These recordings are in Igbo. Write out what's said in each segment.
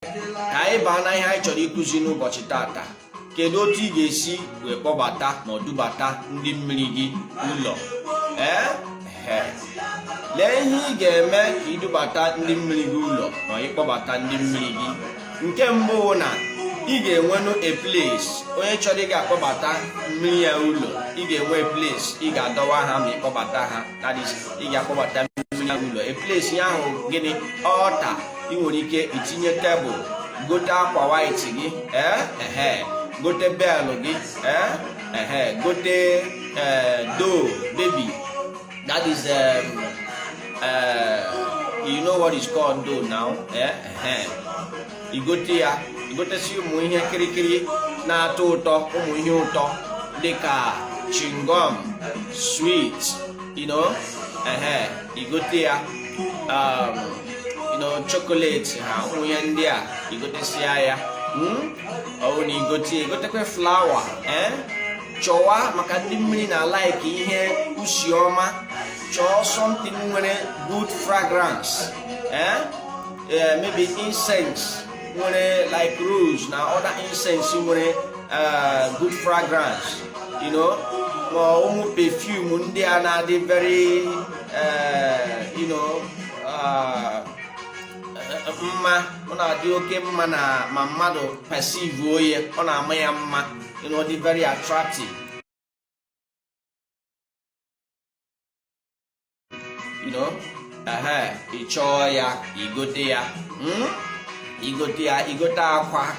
ka anyị baa na ihe anyị chọrọ ịkụzi n'ụbọchị tata kedu otu ị ga-esi wee kpọbata ma ọ dubata ndị mmiri gị ụlọ ee lee ihe ị ga-eme ka idubata ndị mmiri gị ụlọ ma ị kpọbata ndị mmiri gị nke mbụ bụ na ị ga-enwenụ a place onye chọrọ ị ga-akpọbata mmiri ya ụlọ ị ga-enwe place ị ga-adọwa ha ma ị kpọbata ha that is ị ga-akpọbata mmiri ya ụlọ a place ya ahụ gịnị altar ị nwere ike itinye tebụl gote akwa white gị ee eh, gote bell gị ee eh, gote eh, doll baby that is um, uh, you know what is called doll now ee igote ya igotesi ụmụ ihe kirikiri na-atọ ụtọ ụmụ ihe ụtọ dịka chewing gum sweet you know ehe igote ya um, chocolate ha ụmụ ihe ndị a igotesia ya hmm? ọ bụrụ na igote igotekwe flower eh? chọwa maka ndị mmiri na-alike ihe usi ọma chọọ something nwere good fragrance eh? Eh, maybe incense nwere like rose na other incense nwere good fragrance you know ma ụmụ perfume ndị a na-adị very you know ah, eh, mma ọ na-adị oke mma na ma mmadụ perceive-uo ya ọ na-ama ya mma you know, dị very attractive you know ị chọọ ya igote ya hmm? igote ya igote akwa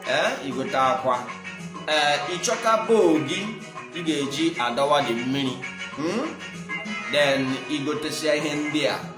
eh, igote akwa ee eh, ịchọta bowl gị ị ga-eji adọwa ndị mmiri hmm? then igotesia ihe ndị a